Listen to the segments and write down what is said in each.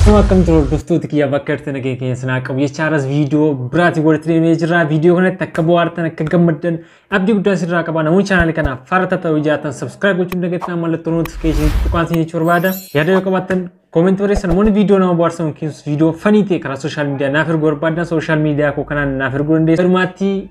Akkuma akkamtu hordoftoota kiyya bakka irratti nagee keenya sinaa qabu jecha har'as viidiyoo biraatiin walitti deemee jirra. Viidiyoo kanatti akka bohaartan akka gammaddan abdii guddaa sirraa qaba. Namoonni chaanaalii kanaaf faarata ta'uu jaatan sabskiraayib gochuun dagattan mallattoo notifikashinii tuqaan siin jechuu barbaada. Yaada yoo qabaattan koomentii barreessan namoonni viidiyoo nama bohaarsan yookiin viidiyoo fanii ta'e karaa sooshaal miidiyaa naaf erguu barbaadan sooshaal miidiyaa koo kanaan naaf erguu dandeessu. Walumaatti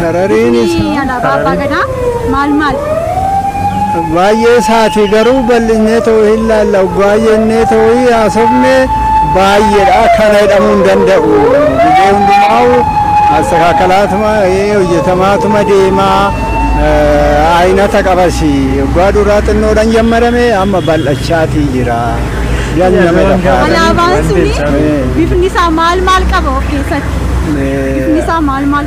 Harariin isaa. Alaabaa Abbaa Gadaa maal maal? Baay'ee isaati garuu bal'inee ta'uu hin laalla. Oggaa jennee ta'uu haasofne baay'eedha. Kana jedhamuu hin danda'u. Biyya hundumaa'u asakaakalaatuma hojjetamaatuma deemaa ayinata qabasi. Oggaa duraa xinnoodhaan jammarame amma bal'achaatii jira. Alaabaan suni bifni isaa maal maal qaba of keessatti? Bifni isaa maal maal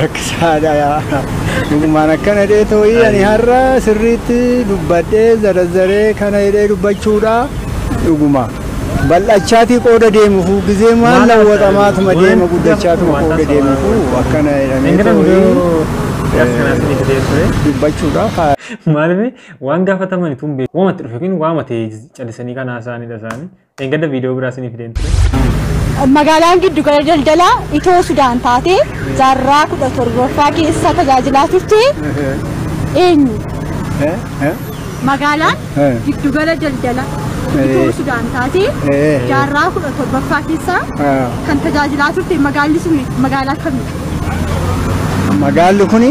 rakkisaadha yaa dhugumaan akkana jedhee tooyii ani har'a sirriitti dubbadhee zarazzaree kana jedhee dubbachuudha dhuguma bal'achaatii qooda deemufu gizee maal lawwaxamaatuma deema guddachaatuma qooda deemufu akkana jedhamee tooyii dubbachuudha haa Maaliif waan gaafatamani tun beeku. Waamatti dhufe yookiin waama ta'e callisanii kan haasa'anidha isaanii. Dheengadda viidiyoo biraa isiniif fideen ture. Magaalaan giddu gala daldalaa Itoo Sudaan taatee jaarraa kudha torbaffaa keessa tajaajilaa turte eenyu? Magaalaan giddu gala daldala Itoo Sudaan taatee jaarraa kudha torbaffaa keessa kan tajaajilaa turte magaalli sun magaalaa kami? Magaalli kuni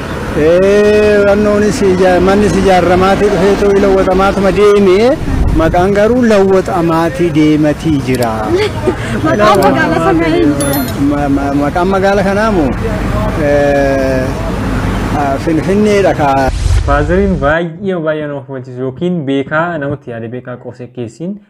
Rannoonis mannis ijaarramaatii dhufeetu lawwaxamaatuma deeme. Maqaan garuu lawwaxamaatii deematii jira. Maqaan magaala sanaa eenyu jedhama? Maqaan magaala kanaa moo Finfinneedha kaa. Faazariin baay'ee baay'ee nama hubachiisu yookiin beekaa namatti yaade beekaa qoosee keessiin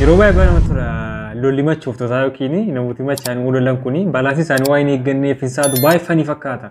Yeroo baay'ee bara tura lolli machooftotaa yookiin namooti machaan lolan kun balaasni isaanii waan hin eegganneef hin saadu baay'ee fanii fakkaata.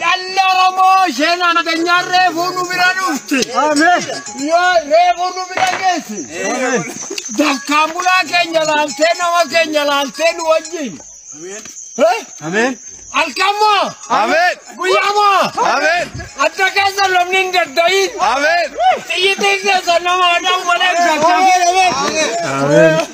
Dhalli Oromoo isheen nageenyaa reefuu nu bira dhufte. Yoo reefuu nu bira geesse. Dafkaan bulaa keenya laaltee nama keenya laaltee nu wajjin. Eh? Halkan moo? Guyyaa moo? Adda keessa lolli hin dadda'iin. Xiyyitiin keessa nama adau malee hin dadda'iin.